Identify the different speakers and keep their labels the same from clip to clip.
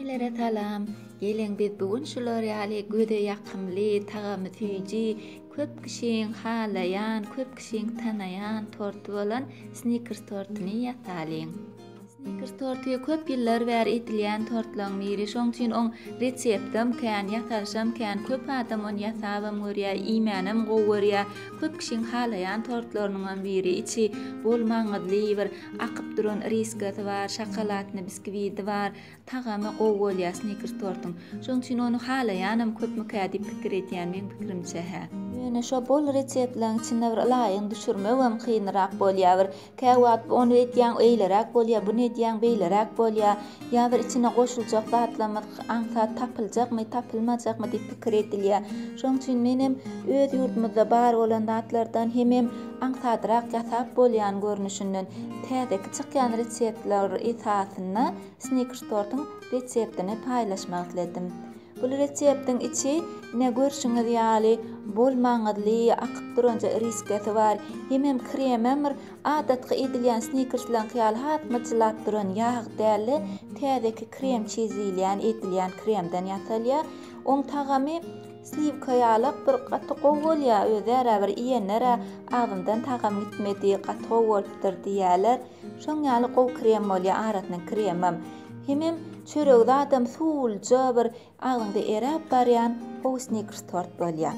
Speaker 1: Hemmelere salam! Geliň biz bu gün şular ýaly göze ýakymly, tagamy süýji, köp kişiň halaýan, köp kişiň tanaýan torty bolan snikers tortyny ýasalyň. Snikers torty köp ýyllar bäri edilýän tortlaryň biri, şoň üçin oň reseptem kän, ýasalyşam kän, köp adam ony ýasabam görýär, iýmänem gowy görýär. Köp kişiň halaýan tortlarynyňam biri, içi bol maňyzly bir Akyp duran iriskasy bar, şokoladny biskwidi bar, tagamy gowy bolýar snikers tortuň. Şoň üçin ony halaýanam köpmükä diýip pikir edýän meň pikirimçe hä. Ýöne şo bol reseptlaň içinde bir ylaýyny düşürmegem kynrak bolýa bir. Käwagt bu ony edýäň eýleräk bolýa, buny edýäň beýleräk bolýa. Ýa bir içine goşuljak zatlarymyz aňsat tapyljakmy, tapylmajakmy diýip pikir edilýär. Şonuň üçin menem öz ýurdumyzda bar bolan zatlardan hemem aňsadrak ýasap bolýan görnüşinden täzeki çykýan reseptler esasynda snikers tortuň reseptini paýlaşmak isledim. Bul reseptiň içi ine görşüňiz ýaly bol maňyzly akyp duran iriskesi bar. Hemem kremem bir Adatky iýdilýän snikerslaňky ýaly has myjylap duran ýag däl-de, täzeki krem çiz diýilýän eýdilýän kremden ýasalýar. Oň tagamy sliwka ýalak bir gaty gowy bolýar özärä bir iýenler-ä agzymdan tagam gitmedi, gaty gowy bolupdyr diýýärler. Şoň ýaly gowy krem bolýar arasynyň kremem. Hemem çöregi zadam suwluja bir Agzyňda eräp barýan how snickers tort bolýa.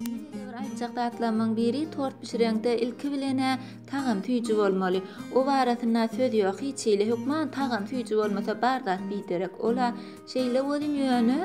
Speaker 1: Ýene-de bir aýtjak zatlarymyň biri tort bişireňde ilki bilenä tagam süýji bolmaly. O barasynda söz ýok hiç hili hökman tagam süýji bolmasa bar zat biderek ola şeýle welin ýöne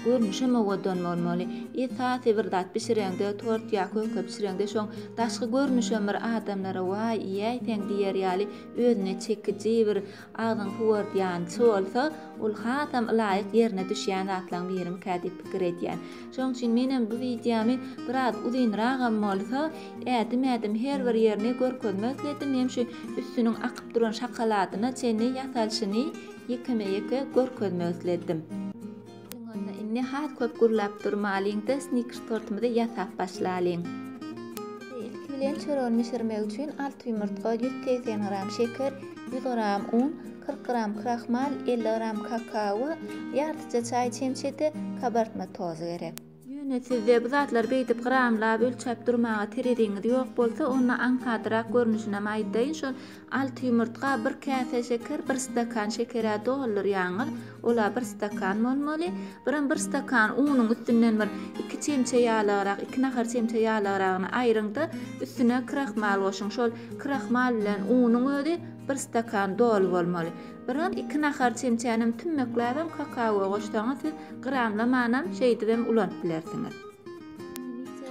Speaker 1: görnüşem owadan bolmaly. Esasy bir zat bişireňde tort ýa köke bişireňde şoň daşky görnüşem bir adamlara waý iýäýseň diýer ýaly özüne çekiji bir Agzyň howurdýançy bolsa, ol hasam ylaýyk ýerine düşýän zatlaryň birimikä diýip pikir edýän. Şonuň üçin menem bu wideomy biraz uzynragam bolsa, ädim-ädim her bir ýerini görkezmek isledim, hem şu üstüniň akyp duran şakaladyna çenli ýasalyşyny ýekeme-ýeke görkezmek isledim. Siziň onda indi has köp gürläp durmalyňda snickers tortumyzy ýasap başlalyň. Ilki bilen çöregiň bişirmek üçin alty ýumurtga, ýüz segsen gram şeker, ýüz gram un, kyrk gram krahmal, elli gram kakao we ýartyja çaý çemçesi kabartma tozy gerek. Ýöne sizde bu zatlary beýdip gramlap, ölçäp durmaga tereziňiz ýok bolsa, onda aňsadrak görnüşinem aýdaýyn, şol alty ýumurtga, bir käse şeker, bir stakan şeker-ä doldurýaňyz, ol-a bir stakan bolmaly. Birem bir stakan unuň üstünden bir iki çemçe ýalagrak, iki nahar çemçe ýalagragyny aýryň-da, üstüne krahmal goşuň. Şol krahmal bilen unuň özi bir stakan doly bolmaly. Biraz iki nahar çemçänem tümmekläbem kakaoa goşsaňyz siz gramlamanam şeýdibem ulanyp bilersiňiz.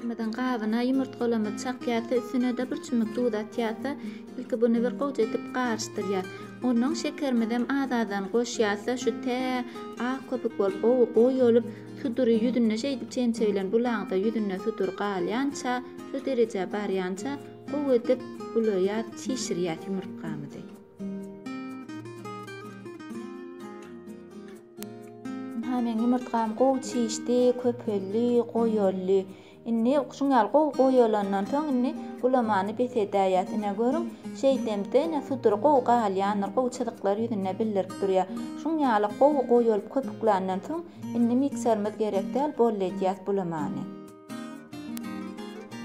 Speaker 1: Mikserimiziň gabyna ýumurtgalamyzy çakýas we üstünede bir çümmük duz atýas-da ilki buny bir goja edip garyşdyrýas. Onnoň şekerimizem az-azdan goşýas-da şu tä ak köpük bolup gowy goýy olup sudury ýüzünde şeýdip çemçe bilen bulaňda ýüzünde sudur galýança şu derejä barýança gowy edip bulaýas çişirýas ýumurtgamyzy. Hä meň ýumurtgam gowy çişdi, köpeldi, goýaldy. Indi şuň ýaly gowy goýalandan soň indi gulamany bes edäýýäs. Ine görüň, şeýdemde ine sudury gowy galýandyr, gowy çyzyklar ýüzünde bildirip durýar. Şuň ýaly gowy goýalyp köpükländen soň indi mikserimiz gerek däl, boldy edýäs bulamany.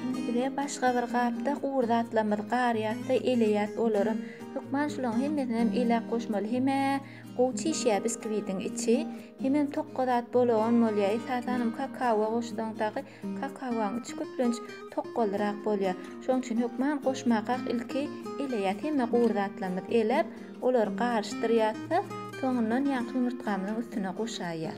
Speaker 1: Indi bize başga bir gapda gury zatlarymyzy garýatda eleýät olary. Hökman şularyň hemmesinem elä goşmaly. Hemä gowy çişýä biskwidiň içi. Hemem tokga zat bolagan bolýa. Esasanam kakawa goşsaň dagy kakawaň içi köplenç tokgalyrak bolýa. Şoň üçin hökman goşmakak ilki eleýät. Hemme gury zatlarymyzy eläp, olary garyşdyrýas-da, soňundan ýaňky ýumurtgamyzyň üstüne goşaýýas.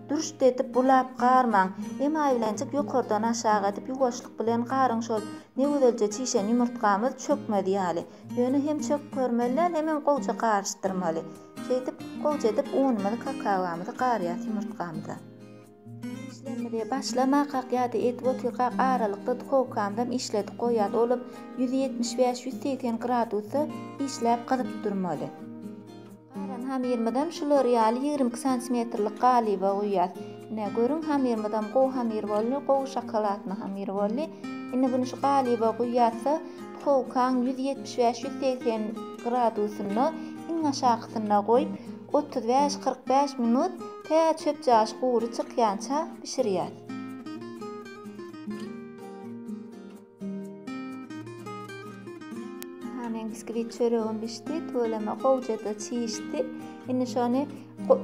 Speaker 1: Dürşt edip bulap garmaň. Emaýilenjik ýokardan aşak edip ýuwaşlyk bilen garyň şol ne gözelje çişen ýumurtgamyz çökmez ýaly. Ýöne hem çöküp görmeli däl hemem gowja garyşdyrmaly. Şeýdip gowja edip unumyzy kakaomyzy garýas ýumurtgamyza. Işlerimize başlamakak ýa-da edip otyrkak aralykda duhowkamyzam işledip goýýas olam ýüz ýetmiş bäş ýüz segsen gradusda işläp gyzyp durmaly. Galan hamyrymyzam şular ýaly ýigrimi iki santimetrlik galyba guýýas. Ine, görüň, hamyrymyzam gowy hamyr boldy, gowy şokoladny hamyr boldy. Indi buny şu galyba guýýas-da, puhowkaň ýüz ýetmiş bäş, ýüz segsen gradusynda, iň aşakysynda goýup, otuz bäş, kyrk bäş minut, tä çöpjaş gury çykýança bişirýäs. Hany biskvit çöregim bişdi, tüweleme gowja-da çişdi. Indi şony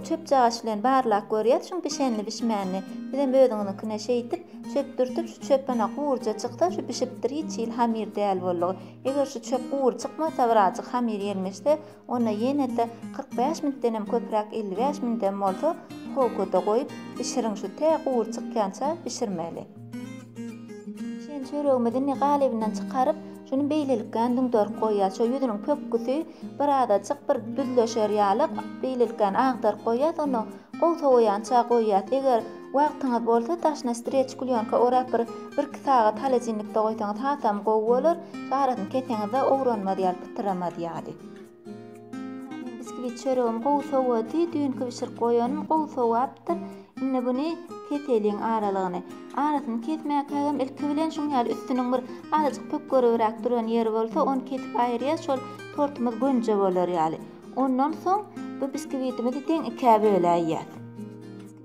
Speaker 1: çöp jagaş bilen barlap görýäs, şuň bişenini bişmänini. Bizem özüňiziňkine şeýdip, çöp dürtüp, şu çöpüne gurja çyksa, şu bişipdir, hiç hili hamir däl boldugy. Eger şu çöp gury çykmasa, birazjyk hamir ýelmeşse, Onda ýene-de kyrk bäş müntdenem köpräk elli bäş mündem bolsa howkada goýup bişiriň şu tä gury çykýança bişirmeli. Şeýle çöregimizi indi galybynyň çykaryp şuny beýlelikgän düňderip goýýas şo ýüzüniň pökgüsi bir azajyk bir düzleşer ýaly beýlelikgän agdaryp goýýas onda Gowy sowaýança goýýas eger wagtyňyz bolsa daşyna streç klýonka orap bir birki sagat holodilnikde goýsaňyz hasam gowy bolar arasyny keseňizde owranmaz ýaly pytyramaz ýaly. Meniň biskwit çöregim gowy sowady düýnki bişirip goýanym gowy sowapdyr indi buny keseliň aralygyny arasyny kesmäkägem ilki bilen şuň ýaly üstüniň bir azajyk pökgeribräk duran ýeri bolsa ony kesip aýyrýas şol tortumyz gönje bolar ýaly Ondan soň bu biskvitimizi deň ikä böläýýäs.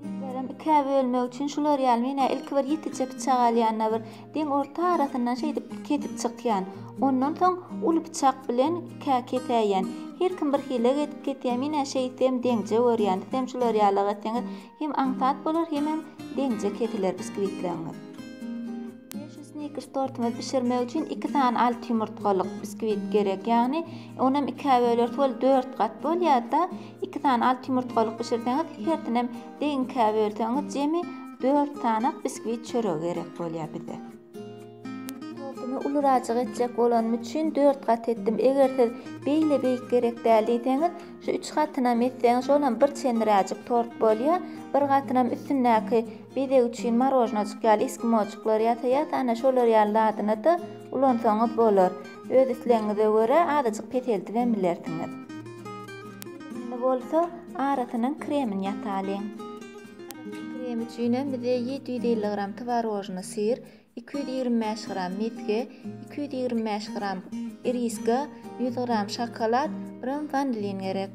Speaker 1: Biskvitlerem ikä bölmek üçin şular ýaly men-ä ilki bir ýekeje pyçak alýan-da bir deň orta arasyndan şeýdip kesip çykýan. Ondan soň uly pyçak bilen ikä kesäýýän. Her kim bir hile edip kesýär, men-ä şeýtsem deňje görýän, sizem şular ýalyrak etseňiz Hem aňsat bolar hemem deňje kesiler biskwitleriňiz. Şu snickers tortuňyzy bişirmek üçin iki sany alty ýumurtgalyk biskwit gerek. Ýagny onam ikä bölersiz ol dört gat bolýarda iki sany alty ýumurtgalyk bişirseňiz hersinem deň ikä bölseňiz jemi dört sanak biskwit çöregi gerek bolýar bize. Tortumy ulurajyk etjek bolanym üçin dört gat etdim. Eger siz beýle beýik gerek däl diýseňiz, şu üç gatynam etseňiz, şolam bir çenliräjik tort bolýar. Bir gatynam üstündäki bezeg üçin marojnajyk ýaly eskimojyklar ýasaýar, ana şolar ýaly zadyny-da ulansaňyz bolar. Öz islegiňize görä azajyk peseldibem bilersiňiz. Indi bolsa arasynyň kremini ýasalyň. Arasynyň kremi üçinem bize ýedi ýüz elli gram twarožnyý syr, iki ýüz ýigrimi bäş gram mesge, iki ýüz ýigrimi bäş gram iriska, ýüz gram şokolad, gram wanilin gerek.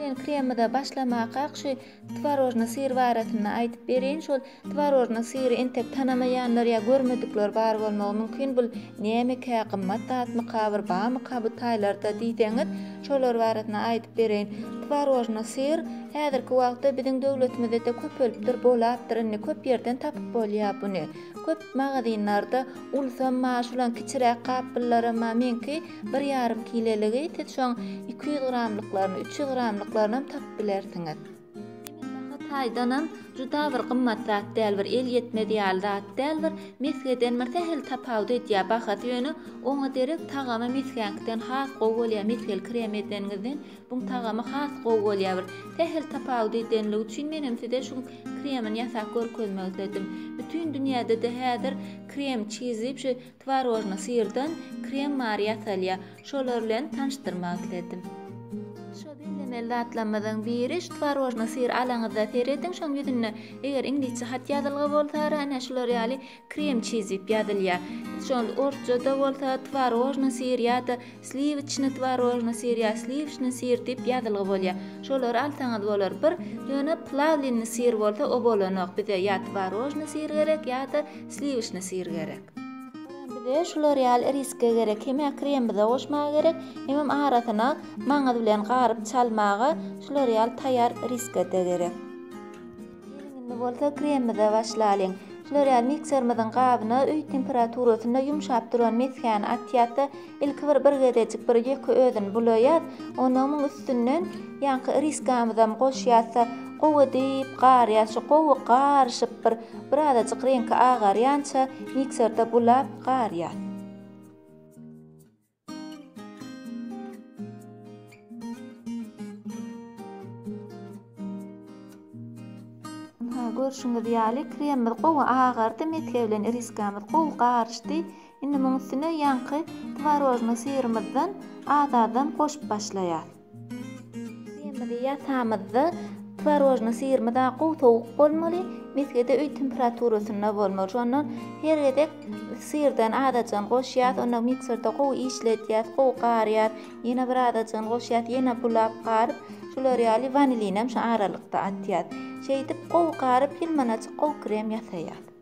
Speaker 1: Ilki bilen kremimize başlamakak şu twarožnyý syr barasynda aýdyp bereýin. Şol twarožnyý syry entek tanamaýanlar ýa görmedikler bar bolmagy mümkin. Bul nämekä, gymmat zatmyka, bir barmyka bu taýlarda diýseňiz, Şolar barasynda aýdyp bereýin. Twarožny syr häzirki wagtda biziň döwletimizede köpelipdir, bolapdyr indi, köp ýerden tapyp bolýar buny. Köp magazinlarda ulsam ma şulan kiçiräk gapbyllara ma meňki bir ýarym kileligi siz şoň iki ýüz gramlyklaryny, üç ýüz gramlyklaryny hem tapyp bilersiňiz. Sebitbaha taýdanam juda bir gymmat zat däl, bir el ýetmez ýaly zat däl, bir mesgeden bir sähel tapawut edýär bahasy, ýöne oňa derek tagamy mesgäňkiden has gowy bolýar, mesgeli krem edeniňizden buň tagamy has gowy bolýar, bir sähel tapawut edenligi üçin menem size şu kremini ýasap görkezmek isledim. Bütin dünýäde-de häzir krem çizip şu Twarožny syrdan krem bar ýasalýar şolar bilen tanyşdyrmak isledim. Şo bellemeli zatlarymyzyň biri şu twarožny syr alaňyzda serediň şoň ýüzünde eger iňlisçe hat ýazylgy bolsara ine şular ýaly krem çiz diýip ýazylýar şol orsçada bolsa twarožny syr ýada Sliwçny twarožny syr ýa sliwçny syr diýip ýazylgy bolýar. Şolary alsaňyz bolar. Bir, ýöne plawlinny syr bolsa o bolanok. Bize ýa twarožny syr gerek ýa-da sliwçny syr gerek. Hemem bize şular ýaly iriska gerek. Hemä krem bize goşmaga gerek. Hemem arasyna maňyz bilen garyp çalmaga şular ýaly taýýar iriska-da gerek. Geliň indi bolsa kremimize başlalyň. Şular ýaly mikserimiziň gabyna öý temperaturasynda ýumşap duran mesgäni atýas-da, ilki bir bir gezejik bir ýeke özüni bulaýas, onnoň muň üstünden ýaňky iriskamyzam goşýas-da, gowy diýip garýas, şu gowy garyşyp bir birazajyk reňki agarýança mikserde bulap garýas. Görşüňiz ýaly, kremimiz gowy agardy, mesge bilen iriskamyz gowy garyşdy. Indi munuň üstüne ýaňky twarožnyý syrymyzdan az-azdan goşup başlaýarys. Kremimizi ýasamyzda twarožny syrymyz-a gowy sowuk bolmaly, mesgede öý temperaturasynda bolmaly. Şondan her gezek syrdan azajygyny goşýas, onda mikserde gowy işledýäs, gowy garýas. Ýene bir azajygyny goşýas, ýene bulap garyp, şular ýaly wanilinem şu aralykda atýas. Şeýdip gowy garyp, ýylmanajyk gowy krem ýasaýas.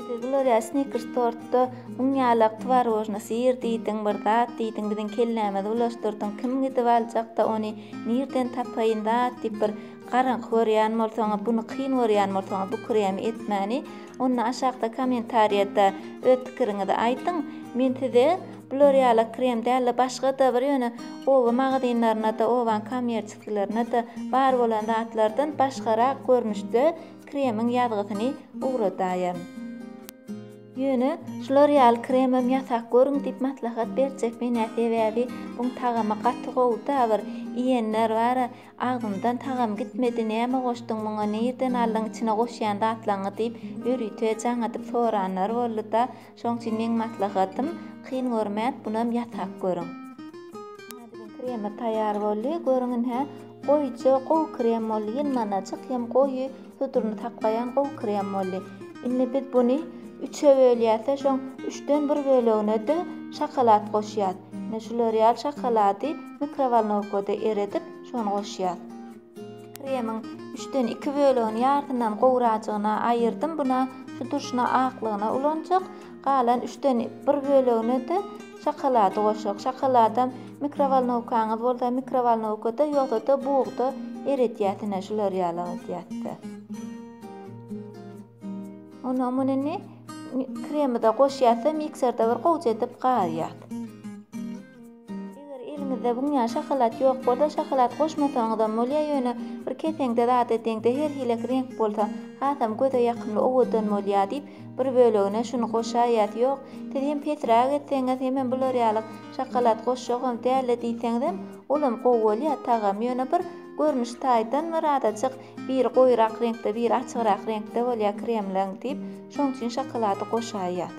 Speaker 1: Siz bular snikers tortda un ýalak twarojna syr diýdiň bir zat diýdiň biziň kellämizi bulaşdyrdyň kim gidip aljakda ony nirden tapaýyn zat diýip bir garaňky görýän bolsaňyz buny kyn görýän bolsaňyz bu kremi etmäni onda aşakda komentariýada öz pikiriňizi aýdyň men size bular ýalak krem dälde başgada bir ýöne oba magazynlarynada obaň kommerçiskilerinde bar bolan zatlardan başgarak görnüşde Kremiň ýazgysyny ugradaýyn. Ýöne şular ýaly kremem ýasap görüň diýip maslahat berjek menä sebäbi buň tagamy gaty gowuda bir iýenler bara agzymdan tagam gitmedi näme goşdyň muňa nirden aldyň içine goşýan zatlaňňy diýip ýörite jaňadyp soranlar bollyda Şoň üçin meň maslahatym kyn görmän bunam ýasap görüň. Hä biziň kremimiz taýýar boldy görüň in hä goýuja gowy krem boldy ýylmanaçyk hem goýy suduryny saklaýan gowy krem boldy. Indi biz buny üçe bölýäsde şoň üçden bir böleginede şokolad goşýas. Ine şu lorial şokolady mikrowolnowkada eredip şony goşýas. Kremiň üçden iki bölegini ýarysyndan gowracygyna aýyrdym. Buna şu turşuna aklygyna ulanjak. Galan üçden bir bölegine-de şokolady goşjak. Şokoladam mikrowolnowkaňyz bolsa mikrowolnowkada ýogsa-da bugda eredýäs ine şular ýaly edýäs-de. Ondan muny indi kremide goşýas-da, mikserde bir gowja edip garýas. Eger eliňizde buňňä şokolad ýok bolsa, şokolad goşmasaňyzam bolýar, ýöne bir keseňde zat edeňde her hili reňk bolsa, hasam göze ýakymly, owadan bolýar diýip, bir bölegine şuny goşaýýas. Ýok, siz hem pesräk etseňiz, hemem bular ýaly şokolad goşjagam däl-le diýseňizem, olam gowy bolýar, tagamy ýöne bir görnüş taýdan bir azajyk Biri goýurak reňkde, biri açygrak reňkde bolýar kremleň diýip, şonuň üçin şokolady goşaýýar.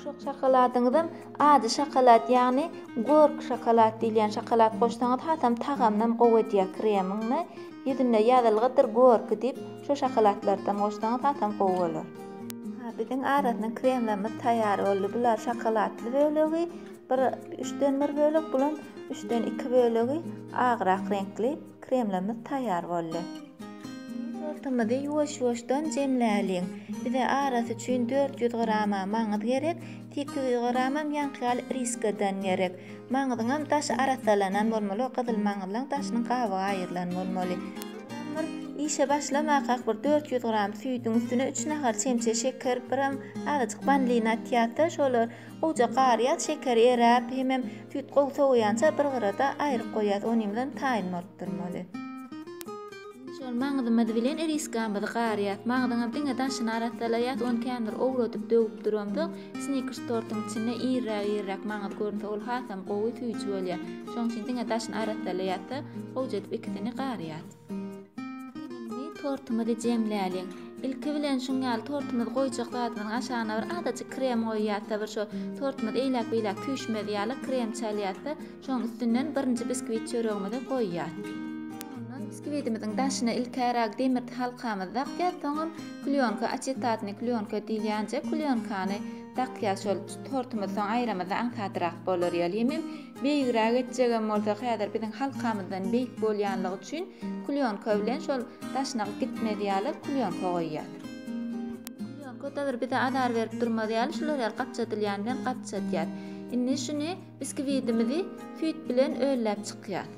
Speaker 1: Şok şokoladyňyzam ady şokolad, ýagny gork şokolad diýilýän şokolad goşsaňyz hasam tagamynam gowy edýär kremiňi. Ýüzünde ýazylgydyr gorki diýip, şo şokoladlardan goşsaňyz hasam gowy bolar. Ha, biziň arasynda kremlerimiz taýýar boldy. Bular şokoladly bölegi, bir üçden bir bölek, bulam üçden iki bölegi agrak reňkli. Kremlimiz taýýar boldy. Indi tortumyzy ýuwaş-ýuwaşdan jemläliň. Bize arasy üçin dört ýüz grama maňyz gerek, sekiz ýüz gramam ýaňky ýaly iriskadan gerek. Maňzyňam daşy arassalanan bolmaly, gyzyl maňyzlaň daşynyň gabygy aýrylan bolmaly. Soňam bir işe başlamakak bir dört ýüz gram süýdüň üstüne üç nahar çemçe şeker, biram azajyk wanilin atýas-da, şolar Gowja garýas, şekeri eräp, hemem süýt gowy sowaýança bir gyrada aýryp goýýas, onuň bilen taýyn bolup durmaly. Indi şol maňzymyz bilen iriskamyzy garýas. Maňzyňam diňe daşyny arassalaýas, ony känbir owradyp döwüp duramsoň, snikers tortuň içinde irräk-irräk maňyz görünse ol hasam gowy, süýji bolýar. Şoň üçin diňe daşyny arassalaýas-da, gowja edip ikisini garýas. Indi tortumyzy jemläliň. Ilki bilen şuň ýaly tortumyzy goýjak zadymyzyň aşagyna bir azajyk krem goýýarsa, bir şo tortumyz eýläk-beýläk süýşmez ýaly krem çalýarsa, şoň üstünden birinji biskwit çöregimizi goýýas. Soňundan biskwidimiziň daşyna ilkärak demir halkamyzy dakýas, soňam klýonka, açetatnyý klýonka diýilýänje klýonkany dakýas. Şol tortumyzy soň aýramyzda aňsadrak bolar ýaly. Hemem Beýigräk etjegem bolsa häzir biziň halkamyzdan beýik bolýanlygy üçin klýonka bilen şol daşyna gitmez ýaly klýonka goýýas. Klýonka da bir bize azar berip durmaz ýaly şular ýaly gapjadylýany bilen gapjadýas. Indi şuny biskwidiimizi süýt bilen ölläp çykýas.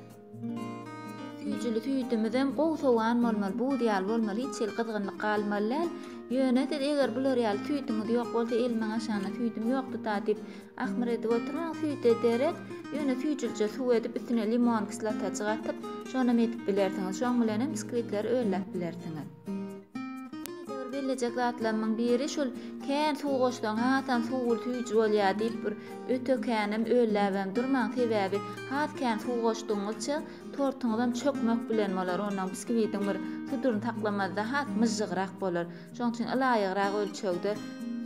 Speaker 1: Süýjüli süýdümizem gowy sowan bolmaly, buz ýaly bolmaly, hiç hili gyzgynlyk galmaly däl. Ýöne siz eger bular ýaly süýdüňiz ýok bolsa, elimiň aşagynda süýdüm ýokdy-da diýip, ahmyr edip oturmaň, süýt ederek, ýöne süýjülije suw edip, üstüne limon kislotajyk atyp, şonam edip bilersiňiz. Şoň bilenem biskwitlere önläp bilersiňiz. Edewir bellejek zatlarymyň biri şul kän suw goşsaň hasam suwul süýji bolýar diýip bir öte känem ölläbem durmaň sebäbi has kän suw goşdugyňyzça tortuňyzam çökmek bilen bolar onnoň biskiwitiň bir suduryny saklamazda has myžžygrak bolar şoň üçin ylaýygrak ölçegde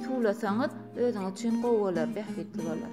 Speaker 1: suwlasaňyz özüňiz üçin gowy bolar bähbitli bolar.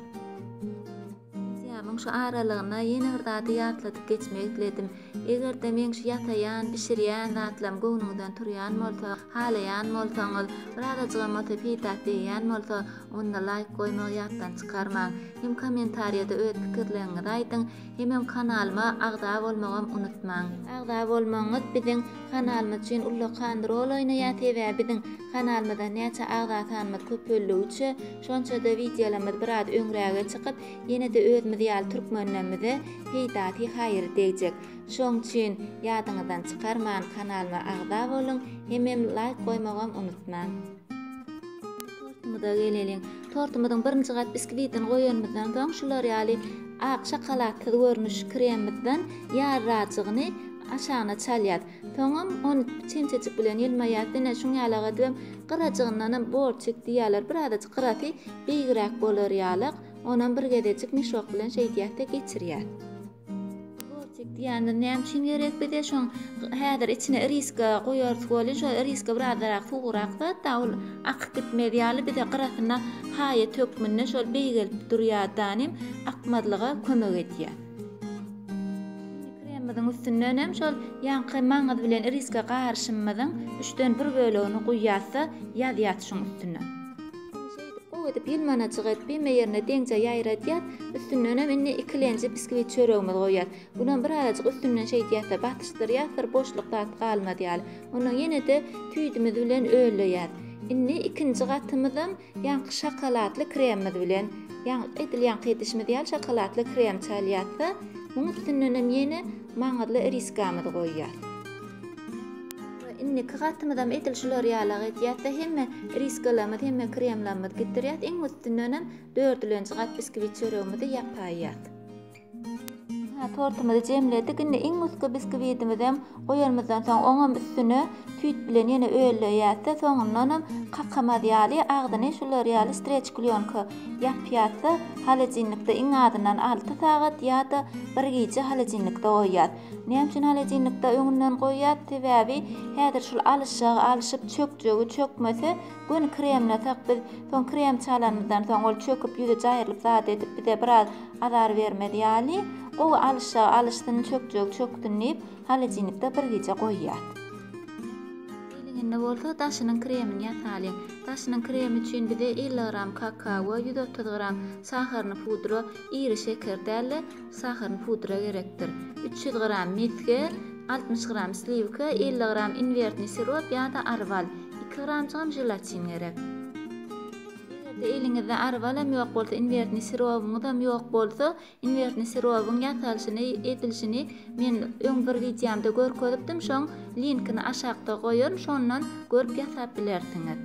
Speaker 1: Sentýabryň şu aralygynda ýene bir zady ýatladyp geçmek isledim. Eger-de meň şu ýasaýan, bişirýän zatlarym göwnüňizden turýan bolsa, halaýan bolsaňyz, birazajygam bolsa peýdaky degýän bolsa, onda laýk goýmagy ýatdan çykarmaň. Hem kommentariýada öz pikirleriňizi aýdyň, hemem kanalyma agza bolmagam unutmaň. Agza bolmagyňyz biziň kanalymyz üçin ullakan rol oýnaýar, sebäbi biziň kanalymyzda näçe agza sanymyz köpeldigi üçe, Şonçada wideolarymyz biraz öňräge çykyp, ýene-de özümiz ýaly türkmenlerimize peýdasy haýry degjek. Şoň üçin ýadyňyzdan çykarman kanalyma agza boluň, hemem laýk goýmagam unutmaň. Tortumyza geleliň. Tortumyzyň birinji gat biskwitin goýanymyzdan soň şular ýaly ak şokoladsyz görnüş kremimizden ýarrajygyny aşagyna çalýas. Soňam ony çemçejik bilen ýylmaýas, diňe şuň ýaly agardybem, gyrajygyndanam bor çek diýýärler, birazajyk gyrasy beýigräk bolar ýalyk, onam bir gezejik mişok bilen şeýdýäs-de geçirýäs. Bor çek diýýänler näme üçin gerek bize? Şoň häzir içine iriska goýarys welin, şo iriska birazrak suwugrak zat-da, ol akyp gitmez ýaly, bize gyrasyna haýat hökmünde şol beýgelip durýar-da, nim akmazlyga kömek edýär. Kremimiziň üstünden hem şol ýaňky maňyz bilen iriske garyşymymyzyň üçden bir bölegini guýýas-da, ýazýas şuň üstüne. Indi şeýdip, gowy edip ýylmanajyk edip, hemme ýerine deňje ýaýradýas. Üstünden hem indi ikilenji biskwit çöregimizi goýýas. Bulam birazajyk üstünden şeýdýäs-de, basyşdyrýas, bir boşluk zat galmaz ýaly. Ondan ýene-de tüýdümiz bilen ölleýäs. Indi ikinji gatymyzam Ýaňky şokoladly kremimiz bilen, ýaňky edil ýaňky edişimiz ýaly şokoladly krem çalýarys-da, muň üstündenem ýene maňyzly iriskamyzy goýýas. We indiki gatymyzam edil şular ýalak edýäs-de, hemme iriskalarymyzy, hemme kremlarymyzy gidirýäs, iň üstündenem dördülenji gat biskwit çöregimizi ýapaýýas. Hä, tortumyzy jemledik, indi iň üstki biskiwidimizem goýanymyzdan soň, oňam üstüne tüýt bilen ýene öleýäs-de, soňundanam kakamaz ýaly, agzyny şular ýaly streç-klýonka ýapýas-da, holodilnikde iň azyndan alty sagat ýa-da bir gije holodilnikde goýýas. Näme üçin holodilnikde öňünden goýýas? Sebäbi häzir şul alyşjagy alyşyp, çökjegi çökmese, göni kremlesak, biz soň krem çalanymyzdan soň, ol çöküp, ýüzi jaýrylyp zat edip, bize biraz Azar bermez ýaly, gowy alyşja alyşsyn, çökjegi çöksün diýip, holodilnikde bir gije goýýas. Eliňinde bolsa daşynyň kremini ýasalyň. Daşynyň kremi üçin bize elli gram kakao, ýüz otuz gram saharny pudra, iri şeker däl-de, saharny pudra gerekdir. Üç ýüz gram mesge, altmyş gram sliwka, elli gram inwertni sirop ýa-da arwal, iki gramjygam želatin gerek. Eger-de eliňizde arbalam ýok bolsa, inwertni sirowyňyzam ýok bolsa, inwertni sirowyň ýasalyşyny, edilişini men öň bir wideomda görkezipdim, şoň linkini aşakda goýaryn, şondan görüp ýasap bilersiňiz.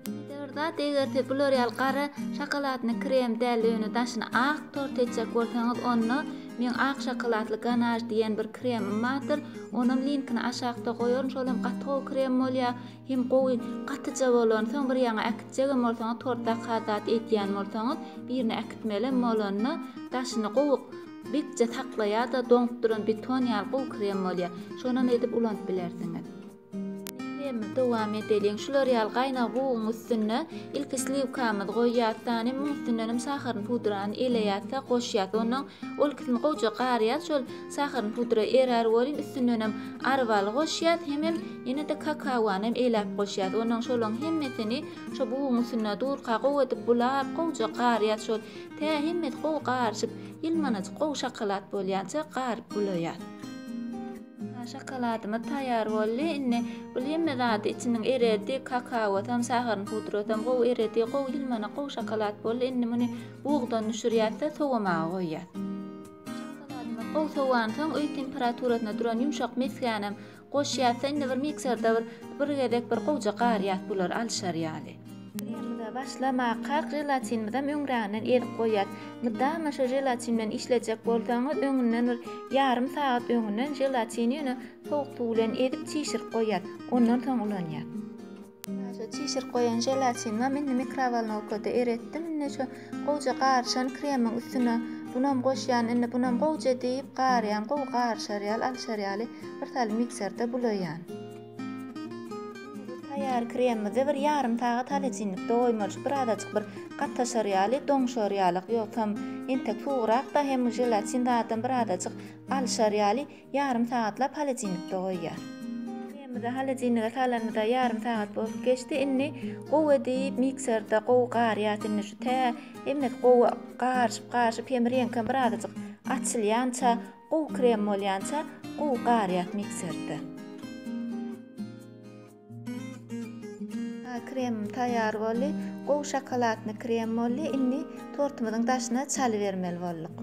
Speaker 1: Ýene-de bir zat, eger siz bular ýaly gara şokoladny krem däl-de ýöne daşyny ak tort etjek bolsaňyz, onda meň ak şokoladly ganaj diýen bir kremim bardyr, onam linkini aşakda goýaryn, şolam gaty gowy krem bolýar, Hem gowy gatyja bolan soň bir ýaňa äkitjegem bolsaňyz torta has zat edýän bolsaňyz birine äkitmelem bolanda daşyny gowy bekje saklaýada doňup duran beton ýaly gowy krem bolýa şonam edip ulanyp bilersiňiz. Kremi dowam edeliň şular ýaly gaýnag buguň üstünde ilki sliwkamyzy goýýas dan hem muň üstündenem saharyny pudrany eleýas da goşýas ondan ol ikisini gowja garýas şol Sahyryň pudra erär welin üstündenem arbaly goşýas hemem ýene-de kakawanam eläp goşýas ondan şolaň hemmesini şo buguň üstünde durka gowy edip bulap gowja garýas şol tä hemmesi gowy garyşyp ýylmanajyk gowy şokolad bolýança garyp bulaýas. Ynha şokoladymyz taýýar boldy indi bul hemme zady içiniň eredi kakawasam sahyryň pudrasam gowy eredi gowy ýylmanak gowy şokolad boldy indi muny bugdan düşürýäs-de sowamaga goýýas. Gowy sowansoň öý temperaturasyna duran ýumşak mesgänem goşýas-da indi bir mikserde bir bir gezek bir gowja garýas bulary alyşar ýaly. Kremimize başlamaka želatinimizem öňräginden ezip goýýas. Mydama şu želatin bilen işlejek bolsaňyz öňünden bir ýarym sagat öňünden želatini ýöne sowuk suw bilen ezip çişirip goýýas. Ondan soň ulanýas. Şu çişirip goýan želatini hem indi mikrowolnowkada eretdim. Indi şu gowja garyşan kremiň üstüne bunam goşýan, indi bunam gowja diýip garýan, gowy garyşar ýaly, alşar ýaly bir sal mikserde bulaýan. Taýýar kremimizi bir ýarym sagat halyjinlikde goýmalyş, birazajyk bir gataşar ýaly, doňşar ýaly, ýogsam entek suwurak-da hem želatin zadam birazajyk alşar ýaly. Ýarym sagatlap holodilnikde goýýar. Çaýymyzy holodilnige salanymyza ýarym sagat bolup geçdi. Indi gowy edip mikserde gowy garýas. Indi şu tä hemmesi gowy garyşyp garyşyp hem reňkem bir azajyk açylýança gowy krem bolýança gowy garýas mikserde. Kremim taýýar boldy. Gowy şokoladny krem boldy. Indi tortumyzyň daşyna çalybermeli bolduk.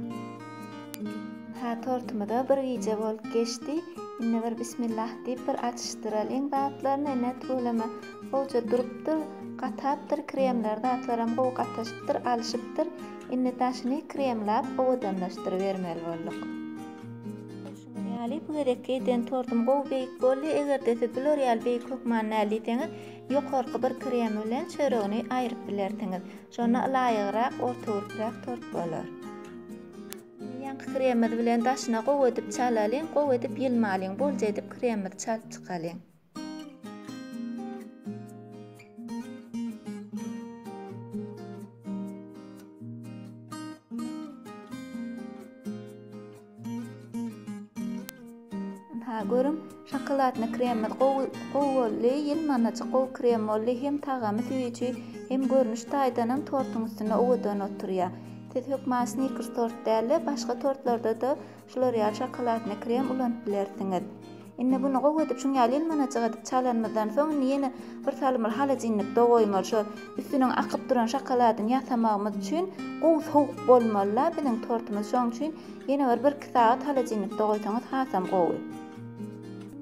Speaker 1: Hä tortumyza bir gije bolup geçdi. Indi bir bismillah diýip bir açyşdyralyň zatlaryny. Ine tuwleme gowja durupdyr. Gatapdyr kremler zatlaram gowy gataşypdyr alyşypdyr. Indi daşyny kremlap owadanlaşdyrybermeli bolduk. Ýaly bu gezekki eden tortum gowy beýik boldy, egerde siz bular ýaly beýik hökman däl diýseňiz, ýokarky bir kremi bilen çöregini aýryp bilersiňiz. Şonda ylaýygrak, ortagurprak tort bolar. Indi ýaňky kremimiz bilen daşyna gowy edip çalalyň, gowy edip ýylmalyň, bolja edip kremimizi çalyp çykalyň. görüň, şokoladny kremimiz gowy gowy boldy, ýylmanajyk gowy krem boldy, hem tagamy süýji, hem görnüş taýdanam tortuň üstünde owadan oturýar. Siz hökman snikers tort däl-de, başga tortlarda-da Şular ýaly şokoladny krem ulanyp bilersiňiz. Indi buny gowy edip şuň ýaly elmanajyk edip çalanymyzdan soň indi ýene bir salymyl holodilnikde goýmaly şo üstüniň akyp duran şokoladyny ýasamagymyz üçin gowy sowuk bolmalyda biziň tortumyz şoň üçin ýene bir bir iki sagat holodilnikde goýsaňyz hasam gowy.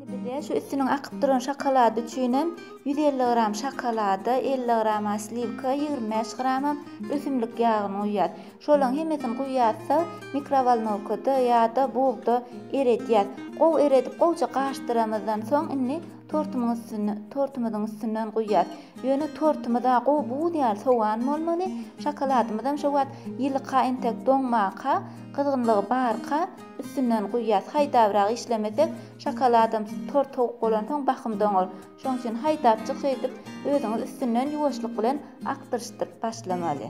Speaker 1: Indi bize şu üstüniň akyp duran şokolady üçinem ýüz elli gram şokolada elli grama sliwka ýigrimi bäş gramam ösümlik ýagyny guýýas. Şolaryň hemmesini guýýarys-da, mikrowolnowkada ýa-da bugda eredýäs. Gowy eredip, gowuja gaşdyramyzdan soň, indi tortumyň üstüne, tortumyzyň üstünden guýýarys. Ýöne tortumyz-a gowy buz ýaly sowan bolmaly, şokoladymyzam şo wagt ýylyka, entek doňmaka, gyzgynlygy barka üstünden guýýarys. Haýdabrak işlemesek, şokoladam tort sowuk bolansoň bahym doňar. Şoň üçin haýdapjyk şeýdip özüňiz üstünden ýuwaşlyk bilen akdyryşdyryp başlamaly.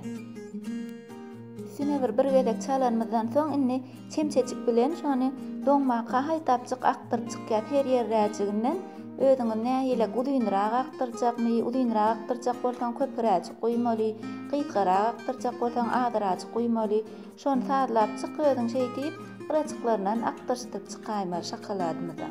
Speaker 1: Üstüne bir bir gezek çalanymyzdan soň indi çemçejik bilen şony doňmaka haýdapjyk akdyryp çykýas her ýerräjiginden özüňiz nähile guzynrak akdyrjakmy uzynrak akdyrjak bolsaň köpüräjik guýmaly gysgarak akdyrjak bolsaň azyräjik guýmaly Şony sazlap çyk özüň şeý diýip gyraçyklaryndan akdyryşdyk çykaýmaly şokoladymyza.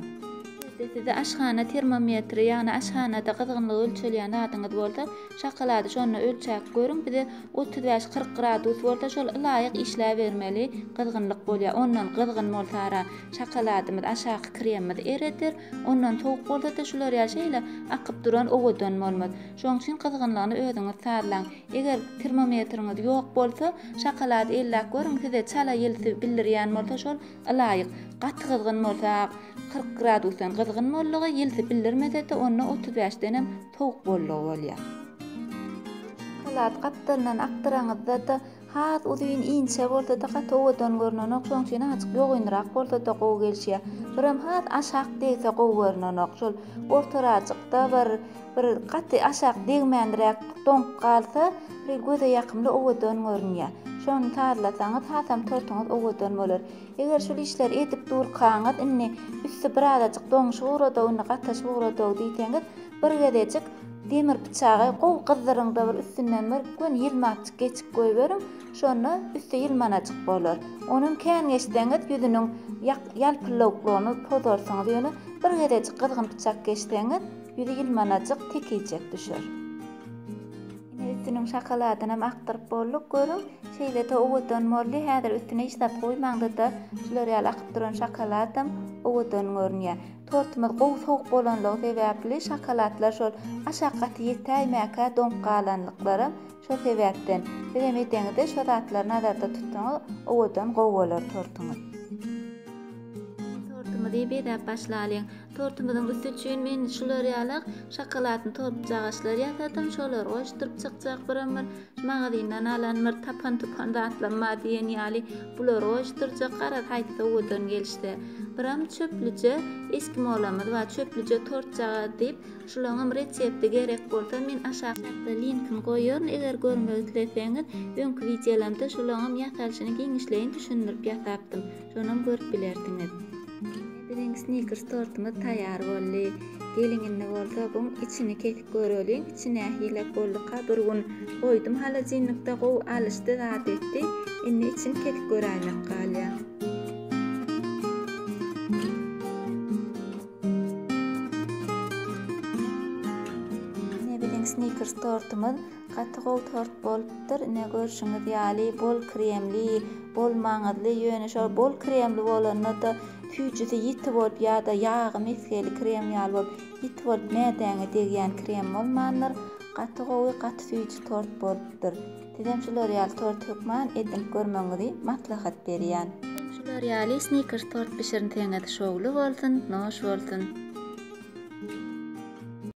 Speaker 1: Eger-de sizde aşhana termometri, ýagny aşhanada gyzgynlygy ölçelýän zadyňyz bolsa, şokolady şonda ölçäp görüň, bize otuz bäş, kyrk gradus bolsa şol ylaýyk işläbermeli gyzgynlyk bolýar. Ondan gyzgyn bolsa-ra şokoladymyz, aşaky kremimiz ereder. Ondan sowuk bolsa-da şular ýaly şeýle akyp duran owadan bolmaz. Şoň üçin gyzgynlygyny özüňiz sazlaň. Eger termometriňiz ýok bolsa, şokolady elläp görüň, size çala ýelsi bildirýän bolsa şol ylaýyk. Gaty gyzgyn bolsa, kyrk gradusdan gyzgyn boldugy, ýelsi bildirmesede onda otuz bäşdenem sowuk boldugy bolýar. Şokolad gapdalyndan akdyraňyzda-da has uzyn, inçe bolsada gaty owadan görnenok, şoň üçin azajyk ýogynrak bolsada gowy gelişýär. Birem has aşak degse gowy görnenok, şol ortarajykda bir Bir gaty aşak degmändiräk doňup galsa, bir göze ýakymly owadan görünýär. Şony sazlasaňyz, hasam tortuňyz owadan bolar. Eger şul işleri edip durkaňyz, indi üsti birazajyk doňuşyp ugrad-ow, indi gataşyp ugrad-ow diýseňiz, bir gezejik demir pyçagy gowy gyzdyryň-da, bir üstünden bir göni ýylmapjyk geçik goýberiň, şonda üsti ýylmanajyk bolar. Onam kän geçseňiz, ýüzüniň ýalpyllawuklygyny pozarsyňyz, ýöne bir gezejik gyzgyn pyçak geçseňiz, Ýüzi ýylmanajyk tekiçek düşer. Ine üstüniň şakaladynam akdyryp bolduk. Görüň, şeýle-de owadan boldy. Häzir üstüne hiç zat goýmaňda-da, şular ýaly akyp duran şakaladam owadan görünýär. Tortumyz gowy sowuk bolanlygy sebäpli şakaladlar şol aşak gaty ýetäýmäkä doňup galanlyklaram şo sebäpden. Sizem edeňizde şo zatlary nazarda tutsaňyz, owadan gowy bolar tortuňyz. Tortumyzy bezäp başlalyň. Tortumyzyň üsti üçin men şular ýaly şokoladny tortjagaçlar ýasadym, şolary goşduryp çykjak birim bir magazyndan alan bir tapan-tupan zatlam bar diýen ýaly bulary goşdurjak, garaz haýsy owadan gelişse. Biram çöplüje eskimolamyz bar, çöplüje tortjagaz diýip, şulaňam resepti gerek bolsa men aşak çatda linkini goýaryn, eger görmek isleseňiz, öňki wideolarymda şulaňam ýasalyşyny giňişleýin düşündirip ýasapdym, şonam görüp bilersiňiz. Biziň snikers tortumyz taýýar boldy. Geliň indi bolsa buň içini kesip göreliň içi nähilek bolduka bir gün goýdum holodilnikde gowy alyşdy zat etdi indi içini kesip göräýmek galýa. Snikers tortumyz Gaty gowy tort bolupdyr ine görşüňiz ýaly bol kremli, bol maňyzly ýöne şol bol kremli bolanda-da süýjüsi ýiti bolup ýa-da ýagy mesgeli krem ýaly bolup ýiti bolup mädäňe degýän krem bolmandyr. Gaty gowy gaty süýji tort bolupdyr. Sizem şular ýaly tort hökman edinip görmegiňizi maslahat berýän. Şular ýaly snickers tort bişirnseňiz şowly bolsun, noş bolsun.